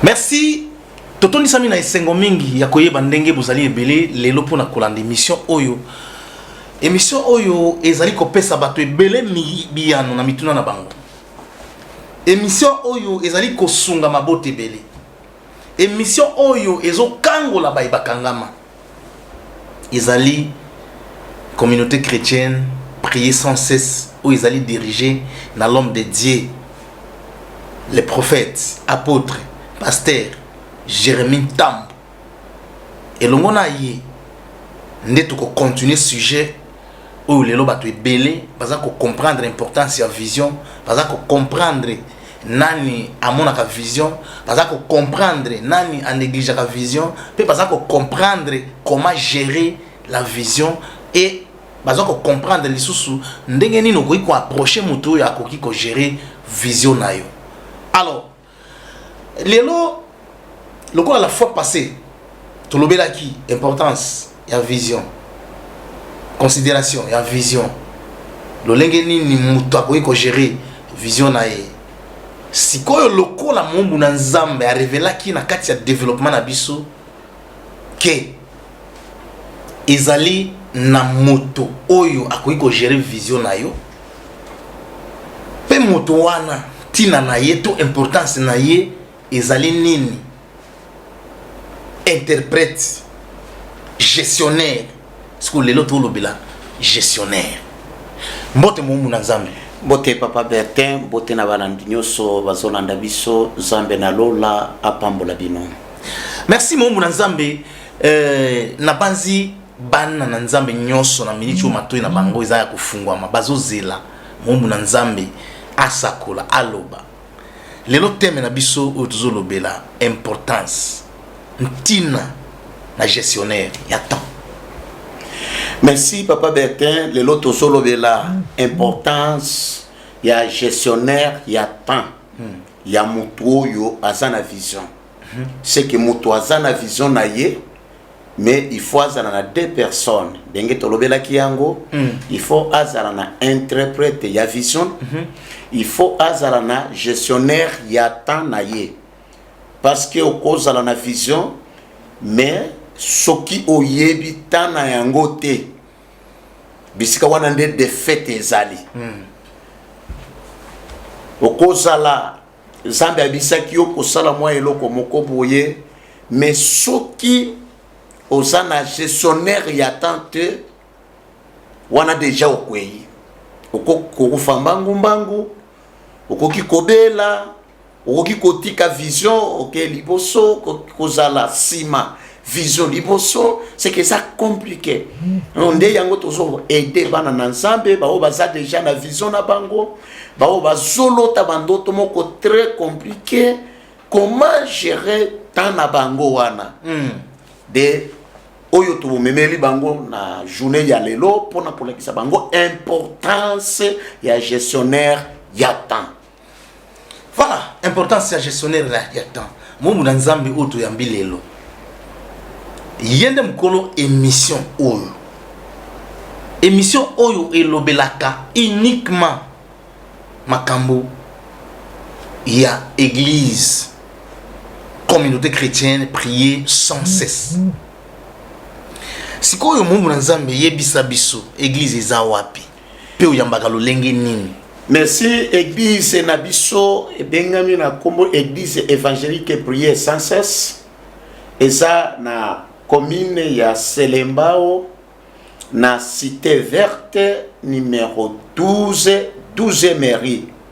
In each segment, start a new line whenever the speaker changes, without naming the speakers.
merci totondisami na esengo mingi ya koyeba ndenge bozali ebele lelo mpo na kolanda emission oyo emission oyo ezali kopesa bato ebele biyano na mituna na bango emission oyo ezali kosunga mabota ebele emission oyo ezokangola baye bakangama ezali communauté chretienne prier sans cesse oyo ezali dirige na l'homme de Dieu le prophète apôtre pasteur Jérémie Tambo elongo na ye nde tokocontinue sujet oyo lelo bato ebele baza kocomprendre importance ya vision baza kocomprendre nani amonaka vision baza kocomprendre nani anegligeaka vision mpe baza kocomprendre comment gérer la vision et baza kocomprendre lisusu ndenge nini okoki koapproche moto oyo akoki kogere vision na yo alors lelo lokola la fois passé tolobelaki importance ya vision considération ya vision lolenge nini moto akoki kogere vision na ye sikoyo lokola mombu na nzambe arevelaki na kati ya développement na biso que ezali na moto oyo akoki kogere vision na yo mpe moto wana ntina na ye to importance na ye ezali nini interprète gestionnaire sikoyo lelo tolobela gestionnaire mbote moumbu na nzambe mbote papa
bertin mbote na balandi nyonso bazolanda biso nzambe na lola apambola bino merci
moumbu na nzambe eh, nabanzi bana na nzambe nyonso na miniti oyo matoi na bango eza ya kofungwama bazozela moumbu na nzambe asakola aloba lelo teme na biso oyo tozolobela importance ntina na gestionnaire ya temps merci
papa bertin lelo tozolobela importance ya gestionnaire ya temps hmm. ya moto oyo aza na vision hmm. seke moto aza na vision na ye mais il faut azala na deux personnes ndenge tolobelaki yango mm. il faut azala na interprète ya vision mm -hmm. il faut azala na gestionnaire ya temps na ye parce que okozala na vision mais soki oyebi temps na yango te bisika wana nde defaite ezali mm. okozala nzambe abisaki yo kosala mwa eloko moko boye me soki oza na gestionnaire ya temps te wana deja okwei okokufa mbangu mbangu okoki kobela okoki kotika vision oke okay, liboso kozala nsima vision liboso seke eza compliqué hmm. nde yango tozo aide bana na nzambe baoyo baza deja na vision na bango baoyo bazolota bandoto moko très compliqué comment gérer temps na bango wana hmm. de oyo tobomemeli bango na journée ya lelo mpona kolakisa bango importance ya gestionnaire ya temps Voilà,
importance ya gestionnaire là, ya temps. Momu na Nzambe oyo toyambi lelo. Yende mukolo émission oyo. Émission oyo elobelaka uniquement makambo ya église communauté chrétienne prier sans cesse sikoyo moumbu na nzambe yebisa biso église eza wapi mpe oyambaka lolenge nini merci
eglise na biso ebengami na nkombo eglise évangélique prière sans cesse eza na commune ya selembao na cité verte numero 12 12 mairie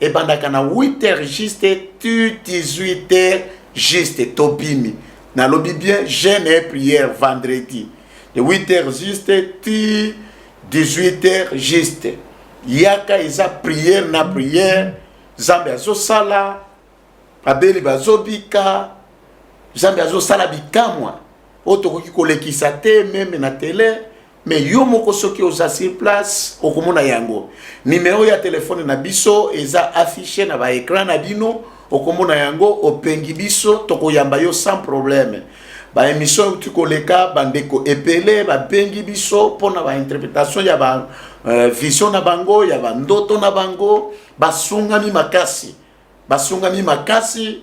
ebandaka na 8 heures juste tu 18 heures juste tobimi nalobi bien jeune et prière vendredi de 8 heures juste ti 18 heures juste yaka eza prière na prière nzambe azosala babeli bazobika nzambe azosala bikamwa oyo tokoki kolekisa te meme na tele me yo moko soki oza sur place okomona yango nimero ya telefone na biso eza affiche na baekran na bino okomona yango opengi biso tokoyamba yo sans problème baémission euti koleka bandeko ebele babengi biso mpona bainterprétation ya ba euh, vision na bango ya bandoto na bango basungami makasi basungami makasi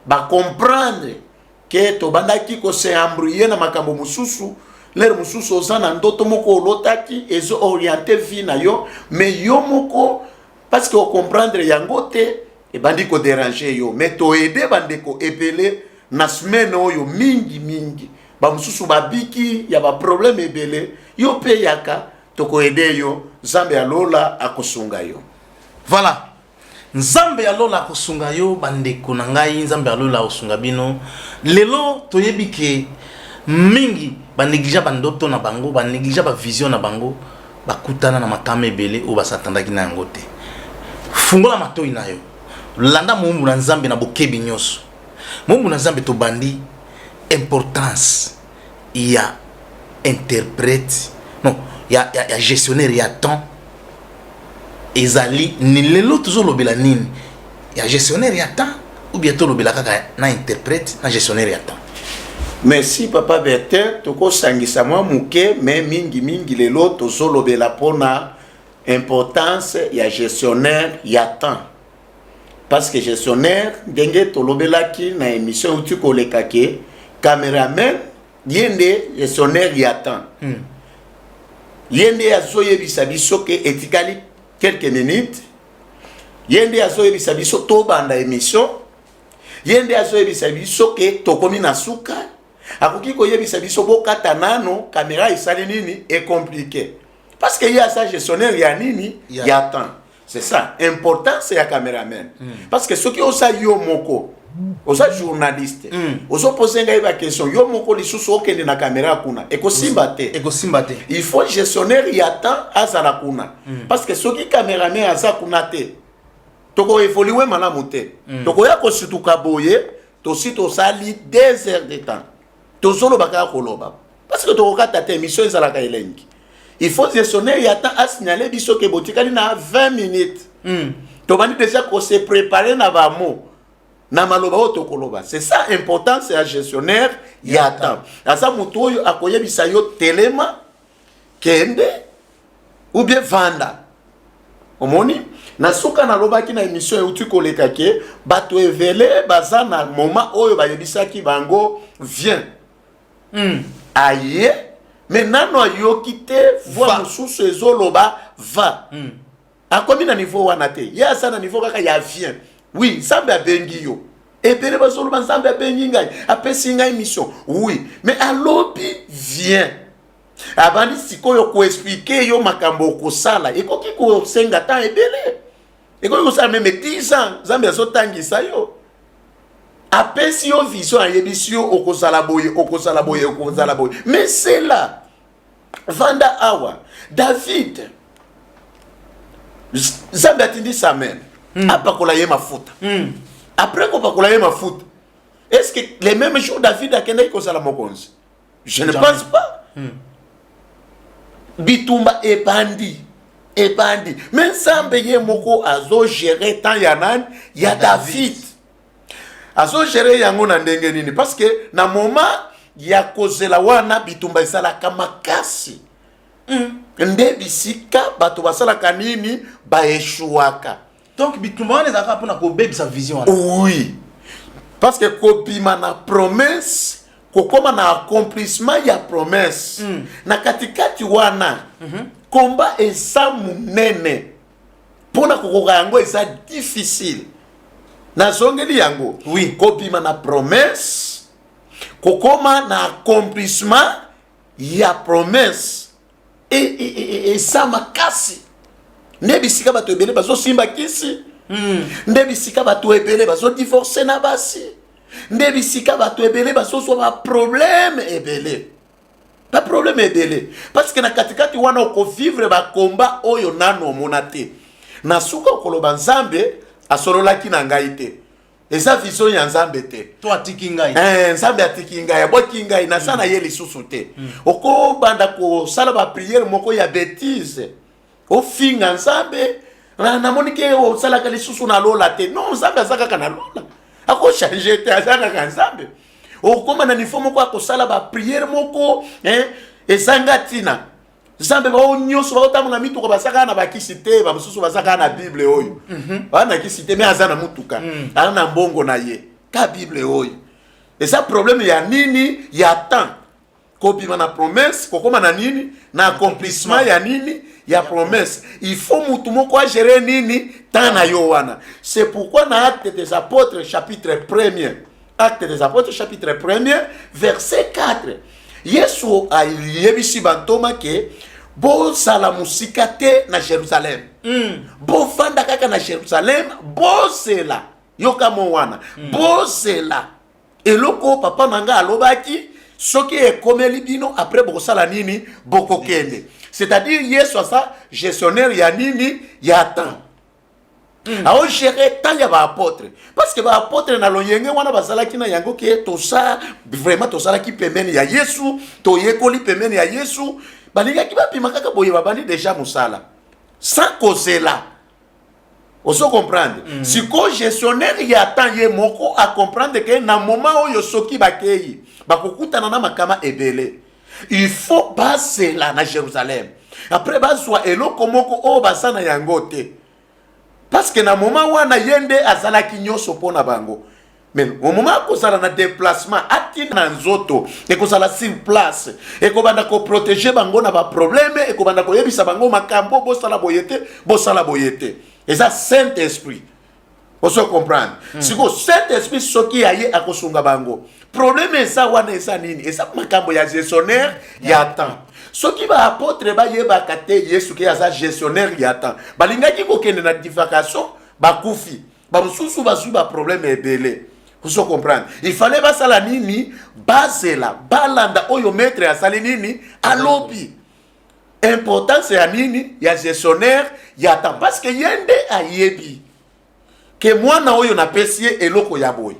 ba comprendre ke tobandaki ko se embrouiller na makambo mosusu lere mosusu oza na ndoto moko olotaki ezo oriente vie na yo me yo moko parce que ocomprendre yango te ebandi koderange yo me toede bandeko ebele na semaine oyo mingi mingi bamosusu babiki ya baproblème ebele yo mpe yaka tokoede yo nzambe ya lola akosunga yo voilà
Nzambe ya lola akosunga yo ba ndeko na ngai nzambe ya lola akosunga bino lelo toyebi ke mingi ba negligea ba ndoto na bango ba negligea ba vision na bango bakutana na makama ebele oyo basatandaki na yango te fungola matoi na yo landa moumbu na nzambe na bokebi nyonso moumbu na nzambe tobandi importance ya interprète non ya, ya, ya gestionnaire ya temps ezali ni lelo tozolobela nini ya gestionnaire ya temps ou bien tolobela kaka na interprète na gestionnaire ya temps merci
papa bertin tokosangisa mwa moke me mingimingi lelo tozolobela mpona importance ya gestionnaire ya temps parce que gestionnaire ndenge tolobelaki na émission euti koleka ke cameraman ye nde gestionnaire ya temps hmm. ye nde azoyebisa biso ke etikali quelques minutes ye nde azoyebisa biso tobanda émission ye nde azoyebisa biso ke tokomi na suka akoki koyebisa biso bokata nano kamera esali nini ecomplike parce que ye aza gestionnaire ya nini ya temps c'est ça importance ya cameraman mm. parce que soki oza yo moko oza journaliste mm. ozopose ngai baquestion yo moko lisusu okende na kamera kuna ekosimba te ekosimba te il faut gestionnaire ya temps azala kuna mm. parce que soki cameraman aza kuna te tokoevolue malamu te mm. tokoya kosutuka boye tosi tosali deux heures de temps tozoloba kaka koloba parce que tokokata te émission ezalaka elengi il faut gestionnaire ya temps asignale biso ke botikali na 20 minutes mm. tobandi déjà kose préparer na bamo na maloba oyo tokoloba c'est ça importance ya gestionnaire ya temps aza motu oyo akoyebisa yo telema kende ou bien vanda omoni na suka nalobaki na emission euti koleka ke bato evele baza na moment oyo bayebisaki bango vien mm. aye me nano ayoki te voi mosusu ezoloba va mm. akomi na niveau wana te ye aza na niveau kaka ya vien wi nzambe abengi yo ebele bazoloba nzambe abengi ngai apesi ngai mission wi me alobi vien abandi sikoyo koexplike yo makambo okosala ekoki kosenga temps ebele ekoki kosala meme 10 ans nzambe azotangisa yo apesi yo vision ayebisi yo okozala boye okozala boye okozala boye mesela vanda awa david nzambe atindi samuel mm. apakola ye mafuta mm. après kopakola ye mafuta est ce que le même jour david akendaki kozala mokonzi je ne pense pas mm. bitumba ebandi ebandi me nzambe ye moko azogere temps ya nani ya david azo gérer yango na ndenge nini parce que na moment ya kozela wana bitumba ezalaka makasi mm. nde bisika bato basalaka nini baeshuaka donc bitumba
wana ezalaka mpona kobebisa vision wana oui
parce que kobima na promesse kokoma na accomplissement ya promesse mm. na katikati wana mm -hmm. komba eza monene mpo na kokoka yango eza difficile nazongeli yango oui. kobima na promesse kokoma na accomplissement ya promesse e, e, e, eza makasi nde bisika bato ebele bazosimba kisi hmm. nde bisika bato ebele bazodivorce na basi nde bisika bato ebele bazozwa baproblème ebele ba problème ebele parce que na katikati wana okovivre bakomba oyo nano omona te na suka okoloba nzambe asololaki na ngai te eza vision ya nzambe te to atiki ngai eh,
nzambe atiki
ngai abwaki ngai naza mm. na ye lisusu te mm. okobanda kosala bapriere moko ya betise ofinga nzambe ah, namoni ke osalaka lisusu na lola te non nzambe aza kaka na lola akochange te aza kaka nzambe okoma na nifo moko akosala bapriere moko eh, ezanga ntina nzambe bao nyonso baotambola mituka baza kaka na bakisi te bamosusu baza kaka na bible oyo mhm. baa na kisi te me aza na motuka mm. aza na mbongo na ye ka bible oyo eza probleme ya nini ya temps kobima na promesse kokoma na nini na accomplissement ya nini ya promesse il faut mutu moko agere nini temps na yo wana c'est pourquoi na acte des apôtres chapitre 1er acte des apôtres chapitre 1er verset 4 yesu ayebisi bantoma ke bozala mosika te na jerusalem mm. bofanda kaka na jerusalem bozela yoka mo wana mm. bozela eloko oyo papa na ngai alobaki soki ekomeli bino après bokosala nini bokokende c'est-à-dire yesu aza gestionnaire ya nini ya temps mm. aogere temps ya baapotre parce que baapotre na loyenge wana bazalaki na yango ke tosa vraiment tozalaki pembeni ya yesu toyekoli pembeni ya yesu balingaki bapima kaka boye babandi deja mosala sans kozela ozo comprendre mm. siko gestionnaire ya temps ye moko a comprendre ke na moment oyo soki bakeyi bakokutana na makama ebele il faut basela na jerusalem après bazwa eloko moko oyo baza na yango te parce que na moment wana ye nde azalaki nyonso mpo na bango mais au moment akozala na déplacement atinda na nzoto ekozala sur place ekobanda koprotege bango na baproblème ekobanda koyebisa bango makambo bosala boye te bosala boye te eza saint esprit ozo comprendre mm. sikoyo saint esprit soki aye akosunga bango problème eza wana eza nini eza makambo ya gestionnaire yeah. ya temps soki baapotre bayebaka te yesu ke aza gestionnaire ya temps balingaki kokende na divacation bakufi bamosusu bazwi baproblème ebele ozo comprendre il fallait basala nini bazela balanda oyo maître asali nini alobi importance ya nini ya gestionnaire ya temps parce que ye nde ayebi ke mwana oyo napesi ye eloko ya boye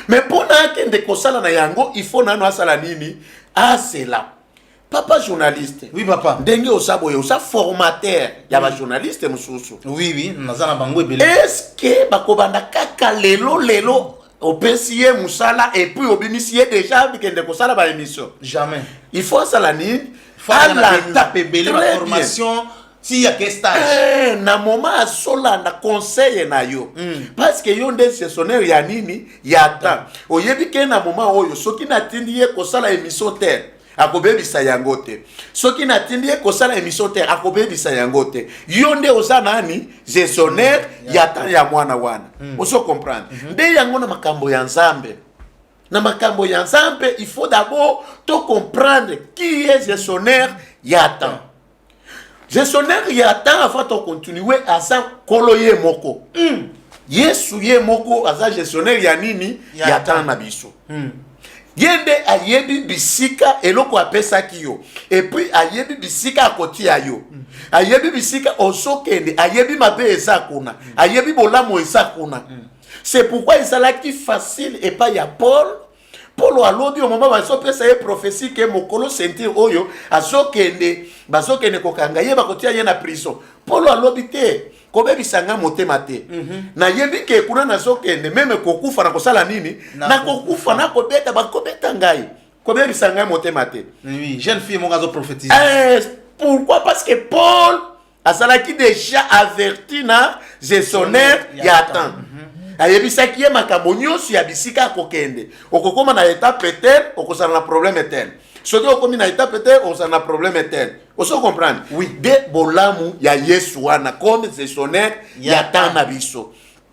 me mpo na akende kosala na yango il faut nano asala nini azela papa journaliste oui papa ndenge
oza boye oza
formateur ya oui. bajournaliste mosusu oui oui naza na
bango ebele eske
bakobanda kaka lelo lelo opesi ye mosala epuis obimisi ye deja bikende kosala baémission jamais il faut
asala
nini alanda
mpe ebele baformation bien. tia ke stage eh, na moment
azolanda conseil na yo mm. parce que yo nde gestionnaire ya nini ya temps oyebi ke na moment oyo soki natindi ye kosala émission te akobebisa yango te soki natindi ye kosala emission te akobebisa yango te yo nde oza nani gestionnaire ya temps ya mwana wana hmm. ozo comprendre mhm. nde yango na makambo ya nzambe na makambo ya nzambe il faut d'abord to comprendre qui est gestionnaire ya temps gestionnaire ya tanga fa to continue aza kolo ye moko mm. yesu ye moko aza gestionnaire ya nini ya, ya tanga na biso mm. ye nde ayebi bisika eloko apesaki yo epuis ayebi bisika akotia yo mm. ayebi bisika ozokende ayebi mabe eza kuna mm. ayebi bolamu eza kuna mm. c'est pourquoi ezalaki facile epai ya paul polo alobi omoma bazopesa ye profesi ke mokolo sentire oyo azokende bazokende kokanga ye bakotia ye na prison polo alobi te kobebisa ngai motema te mm -hmm. nayebi ke kuna nazokende meme kokufa na kosala nini nakokufa na nakobeta bakobeta ngai kobebisa ngai motema te oui, jeune fille moko
azoprofetise eh, pourquoi
parce que paul azalaki deja averti na gestionnaire ya temps mhm. ayebisaki ye makambo nyonso ya bisika akokende okokoma na etape te okozala na probleme te soki okomi na etape te okozala na probleme te oso comprendre oui. de bolamu ya yesu wana comme gestionnaire ya temps na biso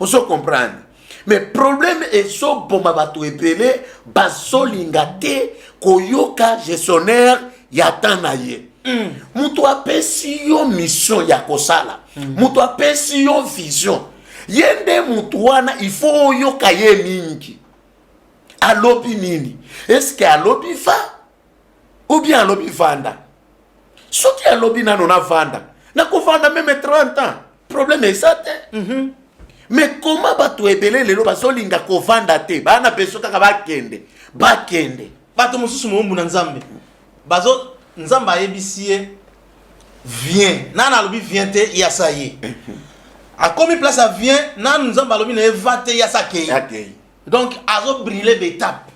ozo comprendre mais problème ezoboma bato ebele bazolinga te koyoka gestionnaire ya temps na ye mm. moto apesi yo mission ya kosala mm. moto apesi yo vision ye nde moto wana il faut oyoka ye mingi alobi nini eske alobi va ou bien alobi vanda soki alobi nano navanda nakovanda meme 30 ans problème eza te mm -hmm. mais koma bato ebele lelo bazolinga kovanda te baa na beso kaka bakende bakende
bato mosusu moumbu na nzambe bazo nzambe ayebisi ye vien nani alobi vien te yasa ye akomi place ya vien nani nzambe alobi na ye va te yasa akei donc azobrille betape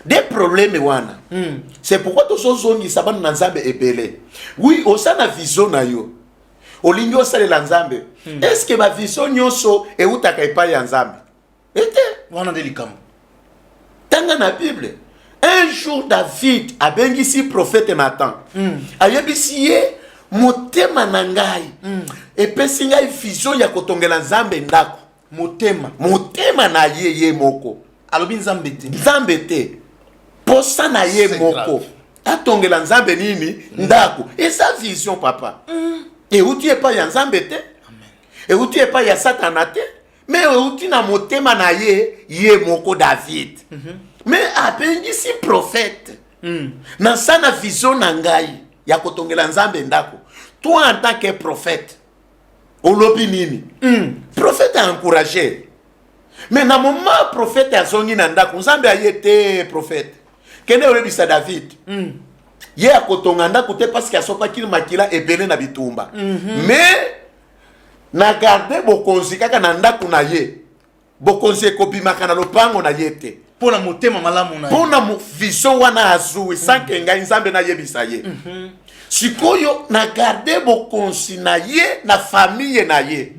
de
probleme wana mm. c'est pourquoi tozozongisa bana na nzambe ebele wi oza na vision na yo olingi osalela nzambe mm. est ce que bavision nyonso eutaka epai ya nzambe ete wana nde likambo
tanga
na bible un jour david abengisi prophète nathan mm. ayebisi ye motema na ngai mm. epesi ngai vision ya kotongela nzambe ndako motema motema na ye ye moko alobi nzambe te
nzambe te
posa na ye C'est moko grave. atongela nzambe nini ndako eza vision papa euti epai ya nzambe te euti epai ya satana te me euti na motema na ye ye moko david me abengisi profete naza na vision na ngai ya kotongela nzambe ndako toi en tant que profete olobi nini mm. profete aencourage me na moma profete azongi na ndako nzambe aye te profete kende oyebisa david mm. ye akotonga ndako te parceke asopaki makila ebele na bitumba mm -hmm. me na garde bokonzi kaka na ndako na ye bokonzi ekobimaka na lopango na ye te mpo na motema malamu
na mpo na vision
wana azui sanke mm. ngai nzambe nayebisa ye mhm. sikoyo na garde bokonzi na ye na famiye na ye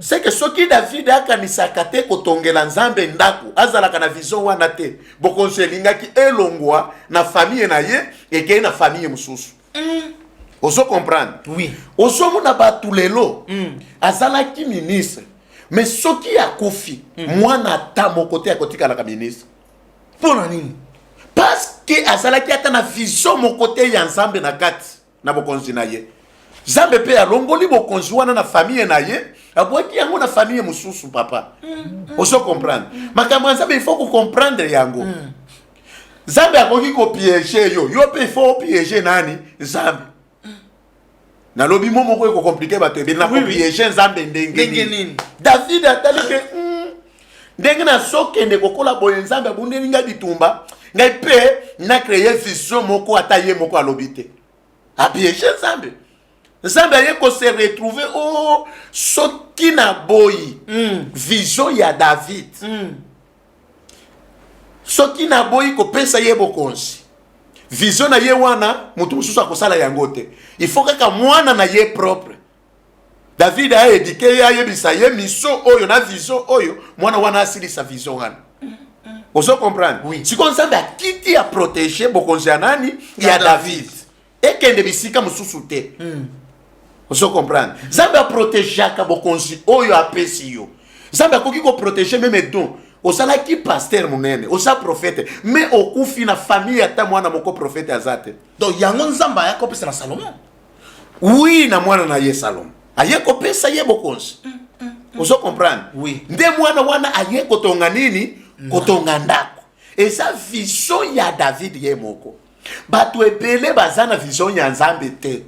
seke soki davidi akanisaka te kotongela nzambe ndako azalaka na vision wana te bokonzi elingaki elongwa na famiye na ye ekei na famiye mosusu mm. ozo comprendre oui. ozomona
bato
lelo mm. azalaki ministre me soki akufi hmm. mwana ata moko te akotikalaka ministre mpo na nini
parceke
azalaki ata na vision moko te ya nzambe na kati na bokonzi na ye nzambe mpe alongoli bokonzi wana na famiye na ye abwaki yango na famiye mosusu papa hmm, hmm. ozo comprendre makambo ya nzambe ifo kocomprendre yango nzambe akoki kopiege yo yo mpe ifo opiege nani nzambe nalobi mo moko ekokomplike bato ebele na kopiege nzambe ndenge nini david atali ke hmm, ndenge nazokende kokola boye nzambe abundeli ngai bitumba ngai mpe na kreye vision moko ata ye moko alobi te apiege nzambe nzambe aye kose retrouve o oh, soki na boyi mm. vision ya david mm. soki naboyi kopesa ye bokonzi vision na ye wana moto mosusu akosala yango te il faut kaka mwana na ye propre david aedike ye ayebisa ye miso oyo na vision oyo mwana wana asilisa vision wana ozo comprendre oui. sikoyo nzambe
akiti
ya protege bokonzi ya nani ya, ya david, david. ekende bisika mosusu te mm. ozo comprendre nzambe aprotegeaka bokonzi oyo apesi yo nzambe akoki koprotege meme don ozalaki paster monene oza profete me okufi na famille ata mwana moko profete aza te donc yango nzambe
aya kopesa na salomon wi
na mwana na ye salomon aye kopesa ye bokonzi mm, mm, mm. ozo comprendre oui. nde mwana
wana
aye kotonga nini kotonga ndako eza vision ya david ye moko bato ebele baza na vision ya nzambe te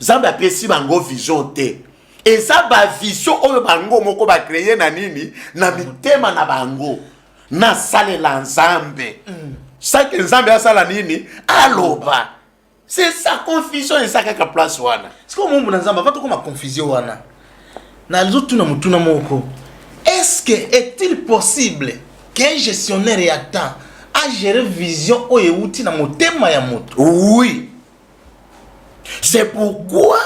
nzambe apesi bango vision te eza bavision oyo bango moko bakreye na nini na mitema na bango nasalela nzambe mm. sake nzambe asala nini aloba c'est ça confusion eza kaka place wana sikoyo mombo na nzambe ava
tokoma confusion wana nazotuna motuna moko est ce que est-il possible qu'un gestionnaire ya temps agere vision oyo euti na motema ya moto oui
c'est pourquoi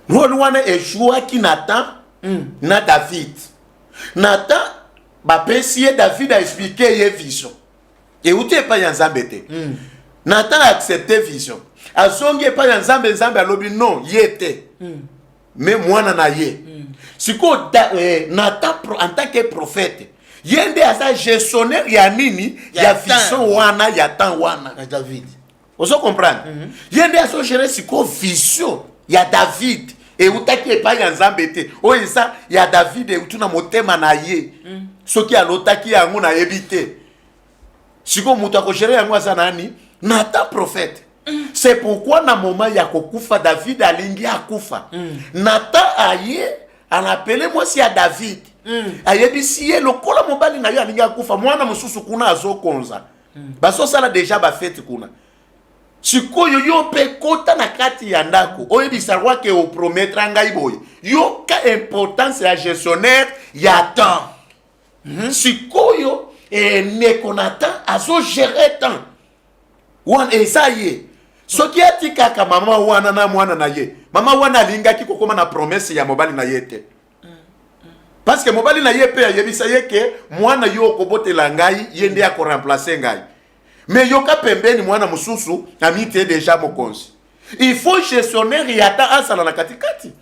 role wana echouaki na temps mm. na david na temps bapesi ye david aexplike ye vision euti epai ya nzambe te mm. natan accepte vision azongi epai ya nzambe nzambe alobi non ye te mm. me mwana na ye mm. sikoyo eh, natan en tant que prophète ye nde aza gestionnaire ya nini ya, ya vision wana ya temps wana ya david
ozo comprendre
mm -hmm. ye nde azogere sikoyo vision ya david eutaki epai ya nzambe te oyo eza ya david eutu na motema na ye mm. soki alotaki yango nayebi te sikoyo moto akogere yango aza nani nata prophète mm. c'est pourquoi na moma ya kokufa david alingi akufa mm. nata aye anapele mwasi ya david mm. ayebisi ye lokola mobali na yo alingi akufa mwana mosusu kuna azokonza mm. bazosala deja bafete kuna sikoyo yo mpe kota na kati ya ndako oyebisa roi ke oprometra ngai boye yoka importance ya gestionnaire ya temps mm -hmm. sikoyo eh, ndeko na temps azogere temps wana eza ye soki atikaka mama wana na mwana na ye mama wana alingaki kokóma na promese ya mobali na ye te parce que mobali na ye mpe ayebisa ye ke mwana yo okobotela ngai ye nde akoremplace ngai me yoka pembeni mwana mosusu amite deja mokonzi il faut gestionnaire ya ata azala na katikati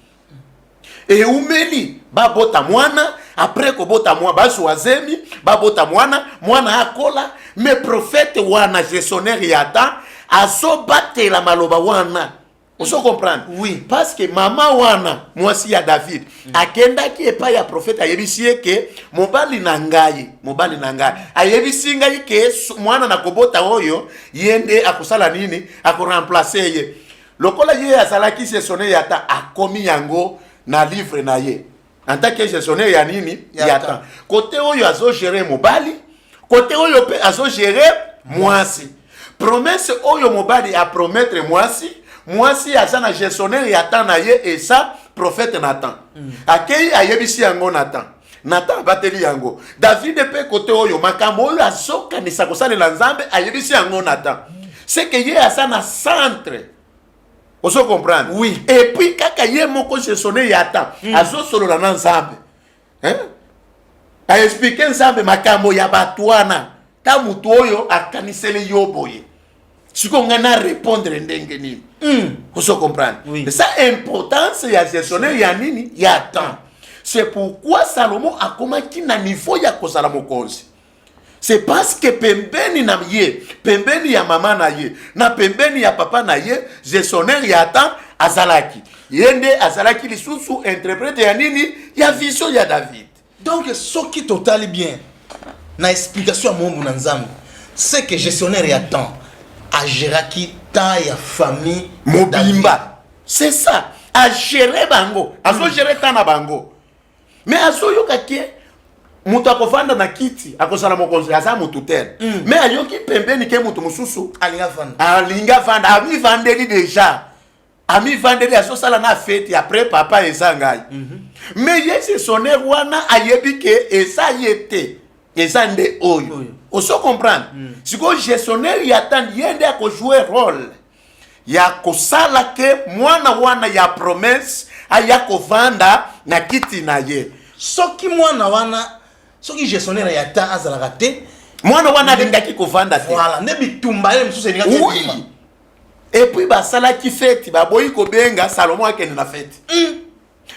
eumeli babota mwana apres kobota mwa bazwa zemi babota mwana mwana akola me profete wana gestionnaire ya ata azobatela maloba wana ozo comprendre oui. parce que mama wana mwasi ya david mm. akendaki epai ya profete ayebisi ye ke mobali na ngai mobali na ngai ayebisi ngai ke mwana na kobota oyo ye nde akosala nini akoremplace ye lokola ye azalaki sesone yata akomi yango na livre na ye en tant que gestionnaire ya nini Ya ya temps. temps kote oyo azo gérer mobali kote oyo mpe azo gérer mwasi promesse oyo mobali a promettre mwasi mwasi aza na gestionnaire ya temps na ye esa prophète nathan akei ayebisi yango nathan nathan abateli yango david mpe kote oyo makambo oyo azokanisa kosalela nzambe ayebisi yango nathan seke ye aza na centre ozo comprendre oui et puis
kaka ye
moko je sonne yata mm. azosolola na nzambe hein? aexplike nzambe makambo ya bato wana ta moto oyo akaniseli yo boye sikoyo ngai na répondre ndenge nini mm. ozo comprendre oui. esa
importance
ya gestionnaire ya nini ya temps c'est pourquoi salomon akomaki na niveau ya kozala mokonzi c'est parce que pembeni na ye pembeni ya mama na ye na pembeni ya papa na ye gestionnaire ya temps azalaki ye nde azalaki lisusu interprete ya nini ya vision ya david donc soki
totali bien na explication ya moombo na nzambe c'est que gestionnaire ya temps agéraki temps ya famille mobimba
c'est ça agere bango azogere temps na bango me azoyoka ke moto akovanda na kiti akozala mokonzi aza motu tere mm. me ayoki pembeni ke moto mosusu alingi avanda amivandeli deja amivandeli azosala na feti apres papa eza ngai mm -hmm. me ye sesoner wana ayebi ke eza ye te eza nde oyo oso comprendre mm. sikoyo gestionnaire ya tani ye nde akojoue role ya kosala ke mwana wana ya promesse aya kovanda na kiti na ye soki mwana
wana soki gestionnaire ya temps azalaka te mwana wana alingaki
kovanda te voilà nde bitumba ye
mosusu elingaki oui. epuis
basalaki feti baboyi kobenga salomo akende na feti mm.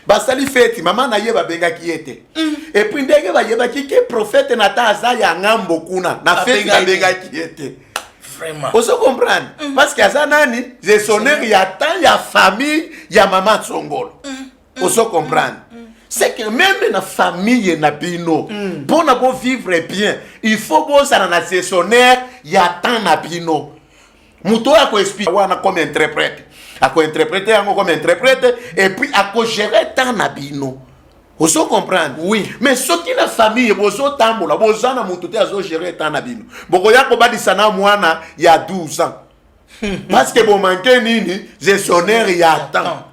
basali feti mama na ye babengaki ye te mm. epuis ndenge bayebaki ke profete na ta aza ya ngambo kuna na feti babengaki ye te ozo
comprendre
mm. parce que aza nani gestionnaire ya temps ya famille ya mama tsongolo mm. ozo comprendre c'est que même na famille na bino mpo na bovivre bien il faut bozala na gestionnaire ya temps na bino moto oyo akoexplike wana comme interprète akointerprete yango comme interprète epuis akogere temps na bino ozo comprendre oui mais soki
na famille
bozotambola boza na moto te azogere temps na bino bokoya kobadisa na mwana ya 12 ans parce que bomanke nini gestionnaire ya temps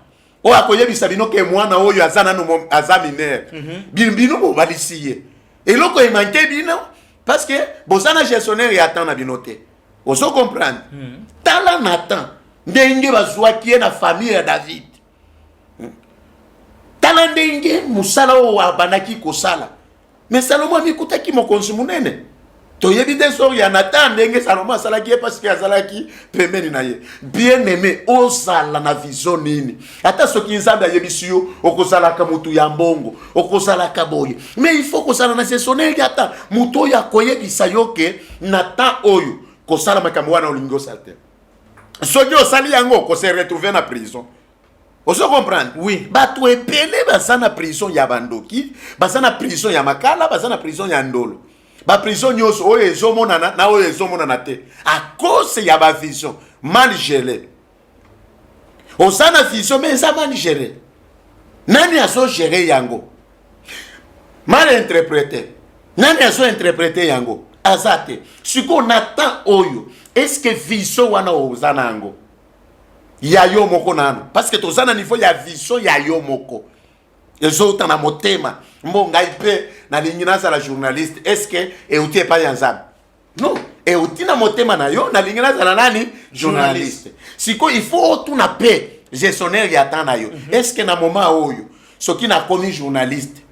oyo akoyebisa bino ke mwana oyo aza nanu aza minere mhm. bino bobalisi ye eloko emanke bino parce que boza na gestionnaire ya temps na bino te ozo comprendre mhm. tala na temps ndenge bazwaki ye na famille ya david hmm. tala ndenge mosala oyo abandaki kosala me salomo amikutaki mokonzi monene toyebi nde sori ya natan ndenge salomo asalaki ye mpasike azalaki pembeni na ye bien aime ozala na vision nini ata soki nzambe ayebisi yo okozalaka motu ya mbongo okozalaka boye me il faut kozala na sesoneli ata motu oyo akoyebisa yo ke na temps oyo kosala makambo wana olingi osala te soki osali yango kose retrouve na prison ozo comprendre oui bato
ebele
baza na prison ya bandoki baza na prison ya makala baza na prison ya ndolo baprison nyonso oyo ezomonana na oyo ezomonana te a cause ya bavision mal gele oza na vision me eza mal gele nani azogere yango mal interprete nani azointerprete yango aza te sikoyo na temps oyo eske vision wana oza na yango ya yo moko nanu parce que toza na niveau ya vision ya yo moko ezouta na motema mbo ngai mpe nalingi nazala journaliste est ce que euti epai ya nzambe non euti na motema na yo nalingi nazala nani journaliste sikoyo il faut otuna mpe gestionnaire ya temps na yo mhm. est ce que na moment oyo soki nakomi journaliste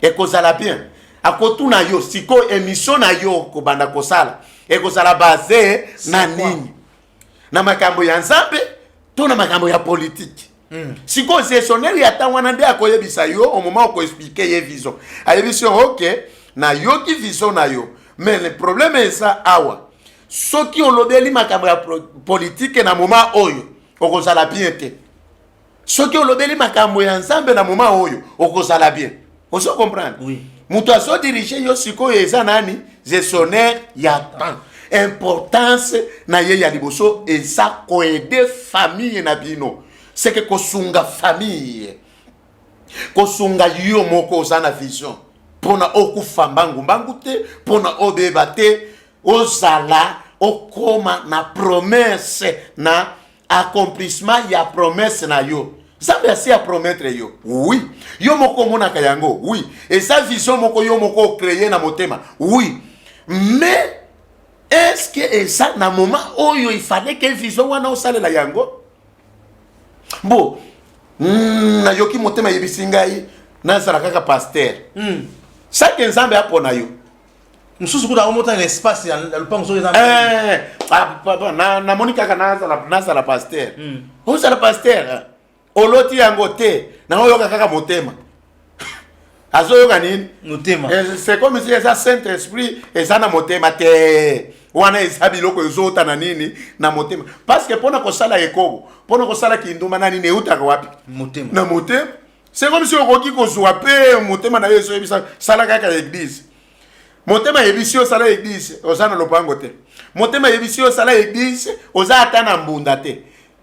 ekozala bien akotuna yo sikoyo emission na yo kobanda kosala ekozala base na nini na makambo ya nzambe to na makambo ya politiki mm. sikoyo gestionnaire ya ntango wana nde akoyebisa yo omoma okoexplike ye vision ayebisi yo oke nayoki vision na yo mais le problème eza awa soki olobeli makambo ya politike na moma oyo okozala bien te soki olobeli makambo ya nzambe na moma oyo okozala bien ozo comprendre oui. moto
azodirige
yo sikoyo eza nani gestionnaire ya temps importance na ye ya liboso eza koede famille na bino seke kosunga famille kosunga yo moko oza na vision mpona okufa mbangumbangu te mpona obeba te ozala okoma na promese na accomplissement ya promesse na yo nzambe asi apromettre yo oui yo moko omonaka yango oui eza vision moko yo moko okreye na motema oui mais eske eza na moment oyo ifale ke vision wana osalela yango bo mm, nayoki motema eyebisi ngai nazala kaka paster mm. sake nzambe apona yo mosusu kuna
omotana na espace ya lopango soki eh, ah,
namoni kaka nazala paster hmm. ozala paster eh. oloti yango te naoyoka kaka motema azoyoka nini motema eh,
sekomisi eza
saint esprit eza na motema te wana eza biloko ezota na nini na motema parceke mpona kosala ekobo mpona kosala kindumba na nini eutaka wapi motema na motema C'est comme si okoki kozwa pe motema na yo ezoyebisa sala kaka ya eglise. Motema yebisi yo sala eglise, oza na lopango te. Motema yebisi yo sala eglise, oza ata na mbunda te.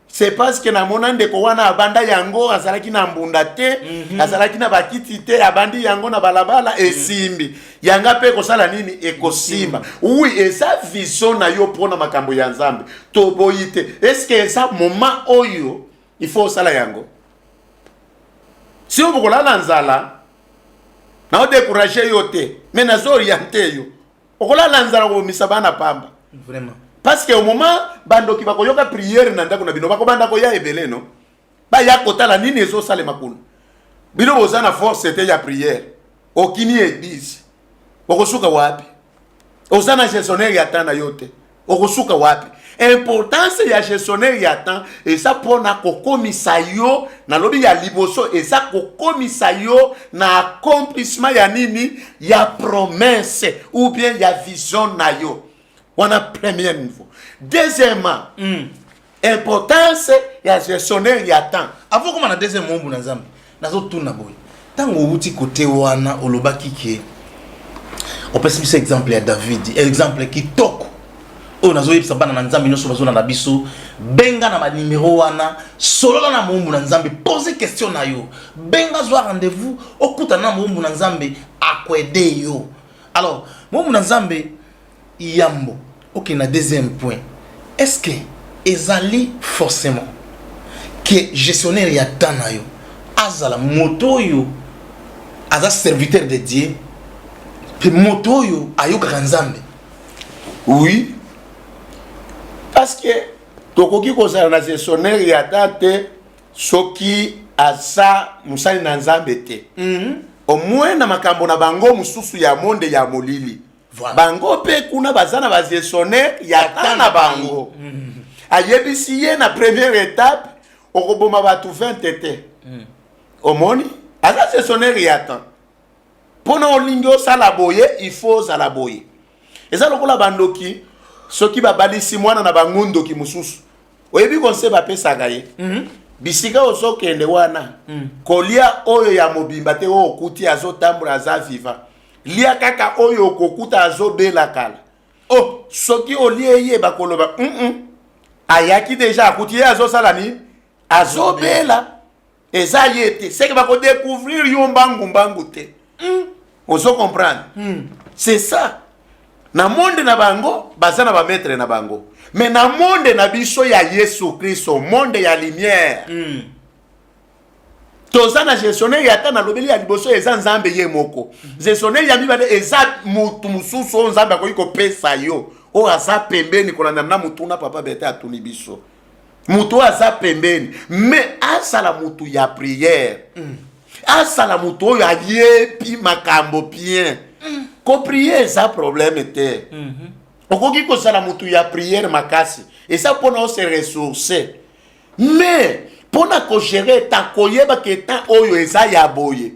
c'est parce que namona ndeko wana abanda yango azalaki na mbunda te mm -hmm. azalaki na bakiti te abandi yango na balabala mhm. esimbi mm -hmm. yanga mpe ekosala nini ekosimba mm -hmm. wi eza vision na yo mpo na makambo ya nzambe toboyi te eske eza moma oyo il faut osala yango sio bokolala nzala nao décourage yo te mais nazo oriente yo okolala nzala kobomisa bana pamba vraiment parce
que au
moment bandoki bakoyoka prière na ndako na bino bakobanda koya ebele no baya kotala nini ezosalema kuna bino boza na force te ya prière okini eglise okosuka wapi oza na gestionnaire ya temps na yo te okosuka wapi importance ya gestionnaire ya temps eza mpona kokomisa yo nalobi ya liboso eza kokomisa yo na accomplissement ya nini ya promesse ou bien ya vision na yo wana premier niveau deuxièmement mm. importance ya gestionnaire ya temps avant okoma na deuxième mombu
na nzambe nazotuna boye ntango owuti kote wana olobaki ke opesi biso exemple ya david exemple kitoko oyo nazoyebisa bana na nzambe nyonso bazona na biso benga na banimero wana solola na moumbu na nzambe pose question na yo benga zwa rendez-vous okutana na moumbu na nzambe akwede yo alors moumbu na nzambe Yambo okende na deuxième point, est ce que ezali forcement que gestionnaire ya temps na yo azala moto oyo aza serviteur de Dieu mpe moto oyo ayokaka Nzambe? Oui,
parce que tokoki kozala na gestionnaire ya temps te soki aza mosali na Nzambe te. Mm -hmm. Au moins na makambo na bango mosusu ya monde ya molili. voilà.
bango mpe kuna
baza na bagestionnaire ya ta na bango mm. ayebisi ye na première étape okoboma bato 20 te mm. omoni aza gestionnaire ya ta mpo na olingi osala boye il faut ozala boye eza lokola bandoki soki babalisi mwana na bango ndoki mosusu oyebi konse bapesaka ye mm -hmm. bisika ozokende wana mm. kolia oyo ya mobimba te oyo okuti azotambola aza viva lia kaka oyo okokuta azobela kala o oh, soki olie ye bakoloba mm -mm. ayaki deja akuti ye azosala nini azobela eza ye te seke bakodecouvrir yo mbangu mbangu te mm. ozo comprendre mm. c'est ça na monde na bango baza na bamaître na bango mais na monde na biso ya yesu kristo monde ya lumière mm. toza na gestionnaire ya ata nalobeli ya liboso eza nzambe ye moko gestionnaire ya mibale eza motu mosusu oyo nzambe akoki kopesa yo oyo aza pembeni kolanda na motuna papa bete atuni biso motu oyo aza pembeni me asala motu ya priere mm. asala motu oyo ayebi makambo bien mm. koprie eza probleme te mm -hmm. okoki kozala motu ya priere makasi eza mpona ose ressource mais mpo na kogere etat koyebaka etat oyo eza ya boye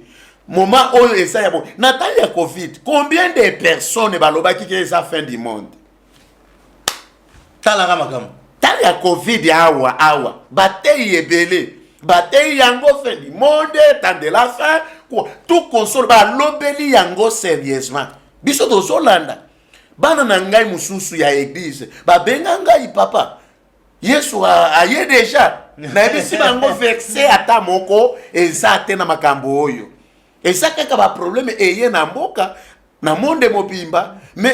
moma oyo eza ya boye na ntango ya covid combien de personnes balobaki ke eza fin du monde
talaka makambo ntango ya covid
awa awa bateyi ebele bateyi yango fin du monde temps de la fin tout console balobeli yango sérieusement biso tozolanda bana na ngai mosusu ya eglize babenga ngai papa yesu aye deja nayebisi bango verse ata moko eza te na makambo oyo eza kaka baprobleme eye na mboka na monde mobimba me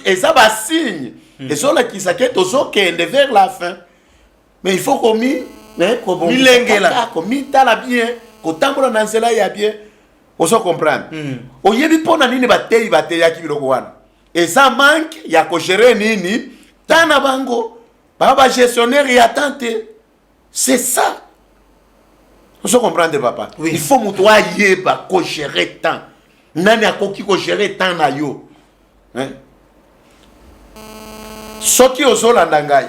eza basigne hmm. ezolakisa ke tozokende vers la fin mais il faut komi milengela
komitala
bien kotambola na nzela ya bien ozo comprendre hmm. oyebi mpo na nini bateyi bateyaki biloko wana eza manque ya ko gérer nini ta na bango ba ba gestionnaire ya temps te c'est ça ozo comprendre papa oui. il faut moto
ayeba
ko gérer temps nani akoki ko gérer temps na yo hein? soki ozolanda ngai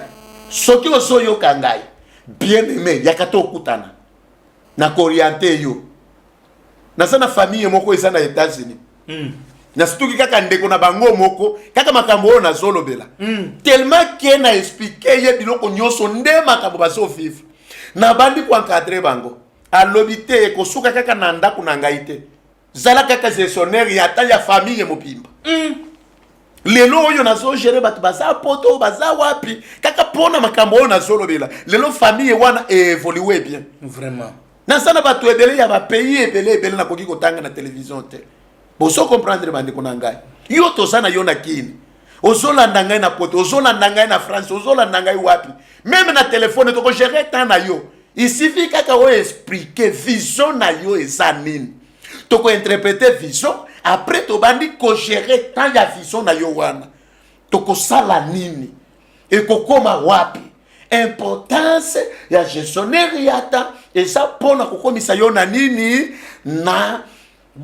soki ozoyoka ngai bien aimé yaka tokutana na koriente yo naza na famille moko eza na etats-unis mm. nasituki kaka ndeko na bango moko kaka makambo oyo nazolobela mm. tellement ke na explike ye biloko nyonso nde makambo bazovivre nabandi koencadre bango alobi te ekosuka kaka na ndako na ngai te zala kaka gestionnaire ya ata ya famille mobimba mm. lelo oyo nazogere bato baza poto baza wapi kaka mpona makambo oyo nazolobela lelo famille wana eevolue bien vraiment naza
na bato
ebele ya bapays ebele ebele nakoki kotanga na televizio te bozo comprendre bandeko na ngai yo toza na yo na kini ozolanda ngai na poto ozolanda ngai na france ozolanda ngai wapi meme na telefone tokogere temps na yo isifi kaka oyo explike vision na yo eza nini tokointerprete vision après tobandi kogere temps ya vision na yo wana tokosala nini ekokoma wapi importance ya gestionnaire yata eza mpo na kokomisa yo na nini na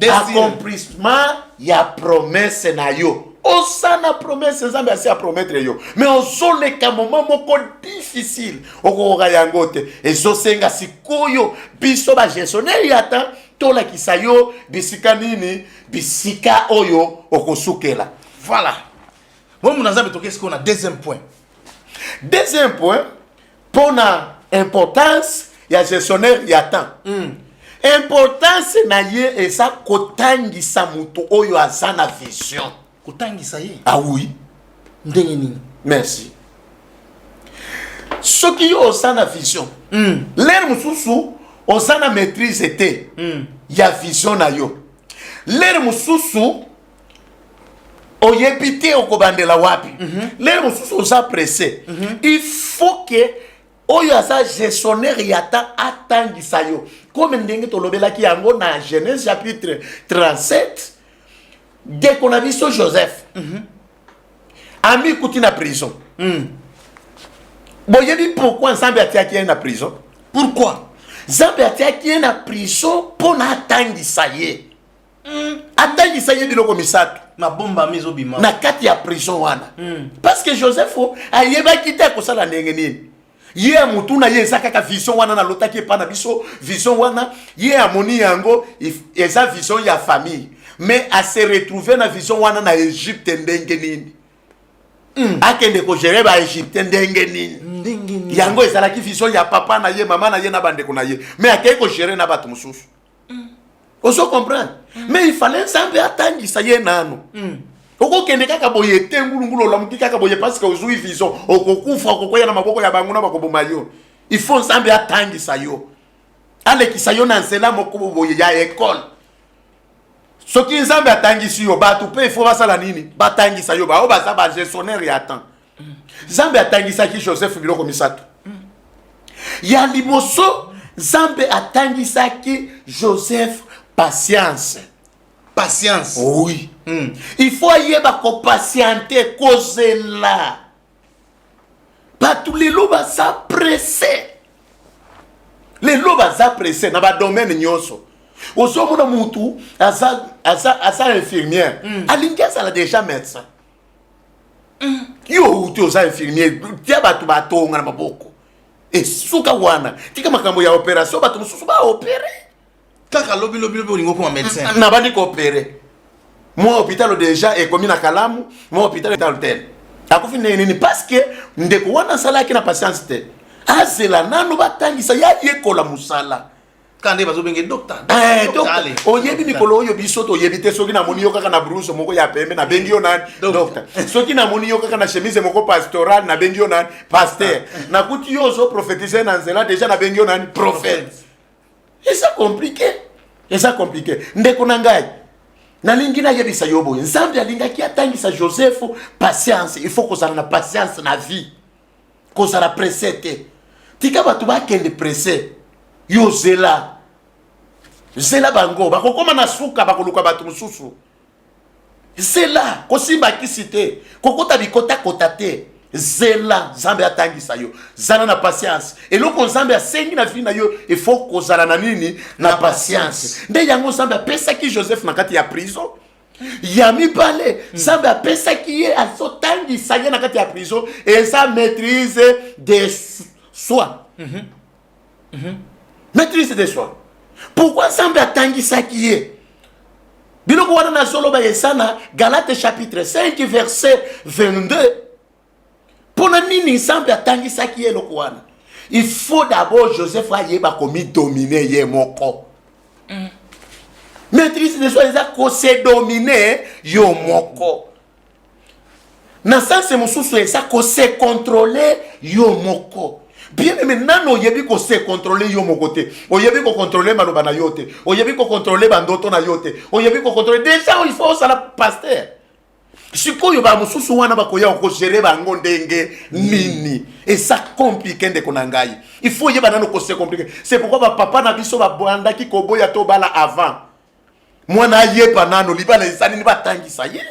accomplissement ya promesse na yo oza na promesse nzambe asi apromettre yo mais ozoleka moma moko difficile okokoka yango te ezosenga sikoyo biso bagestionnaire ya temps tolakisa yo bisika nini bisika oyo okosukela voilà
bomona nzambe toke sikoyo na deuxième point deuxième point
mpo na importance ya gestionnaire ya temps mm. importance na ye eza kotangisa moto oyo aza na vision kotangisa ye
ah oui
ndenge nini
merci
soki yo oza na vision mm. lere mosusu oza na maîtrise te mm. ya vision na yo lere mosusu oyebi te okobandela wapi mm -hmm. lelo mosusu oza presse mm -hmm. il faut que oyo aza gestionnaire ya ta atangisa yo comme ndenge tolobelaki yango na genèse chapitre 37 ndeko na biso joseph mm -hmm. amikuti na prison mm. boyebi pourkui nzambe atiaki ye na prison pourkui nzambe atiaki ye na prison mpo na atangisa ye mm. atangisa ye biloko misato mabombami ezobima
na kati ya prison
wana mm. parce que joseph ayebaki te akosala ndenge nini ye ya motu na ye eza kaka vision wana nalotaki epa na biso vision wana ye amoni yango eza vision ya famille mais ase retrouve na vision wana na egypte ndenge nini mm. akende kogere baegyptien ndenge nini yango ezalaki vision ya papa na ye mama na ye na bandeko na ye mais akei kogere na bato mosusu mm. ozo comprendre mm. mais il fallait nzambe atangisa ye nanu mm. okokende kaka boye te ngulungulu olamuki kaka boye parceke ozwi vision okokufa okokwea na maboko ya bango na bakoboma yo il faut nzambe atangisa yo alekisa yo na nzela moko boye ya ekole soki nzambe atangisi yo bato mpe ifo basala nini batangisa yo baoyo baza bagestionnaire ya temps nzambe atangisaki joseph biloko misato ya liboso nzambe atangisaki joseph patience patience
oui mm.
il faut ayeba kopatiente kozela bato lelo baza presse lelo baza presse na badomaine nyonso ozomona mutu aza, aza, aza infirmière mm. alingi azala déjà médecin yo outi oza infirmier tia bato batonga na maboko esuka wana tika makambo ya operation bato mosusu baopere kaka lobi
lobi lobi olingi okoma médecin mm, mm, nabandi koopere
mwa hôpital deja ekomi na kalamu mwa hôpital etal tel akufi ndenge nini parceke ndeko wana asalaki na patience te azela nano batangisa yayekola mosala kande bazobenge
docteur eh,
oyebi mikolo oyo biso toyebi te soki namoni yo kaka na bruse moko ya pembe nabengi yo nani docteur soki namoni yo kaka na chemise moko pastoral nabengi yo nani paster ah. nakuti yo ozo prophétise na nzela deja nabengi yo nani prophète eza compliqué eza compliqué ndeko na ngai nalingi nayebisa yo boye nzambe alingaki atangisa joseph patience il faut kozala na patience na vie kozala presse te tika bato bakende presse yo zela zela bango bakokoma na suka bakoluka bato mosusu zela kosimba kisi te kokota bikotakota te zela nzambe atangisa yo zala na patience eloko nzambe asengi na vi na yo efo kozala na nini na patience nde yango nzambe apesaki joseph na kati ya prison ya mibale hmm. nzambe apesaki ye azotangisa ye na kati ya prison eza maîtrise de soi mhm. Mhm. maîtrise de soi pourkui nzambe atangisaki ye biloko wana nazoloba eza na galate chapitre 5 verset 22 mpo na nini nzambe atangisaki ye eloko wana il faut d'abord joseph ayeba komidomine ye moko mm. maîtrise de soi eza kosedomine yo moko na sanse mosusu eza kosekontrole yo moko bien aime nano oyebi kosekontrole yo moko te oyebi kokontrole maloba na yo te oyebi kokontrole bandoto na yo te oyebi kokontrole deja il faut osala paster sikoyo ba mususu wana bakoya okogere bango ndenge nini eza komplike ndeko na ngai il faut yeba nano kose komplike c'est pourquoi bapapa na biso babandaki koboya tobala avant mwana ayeba nano libala eza nini batangisa ye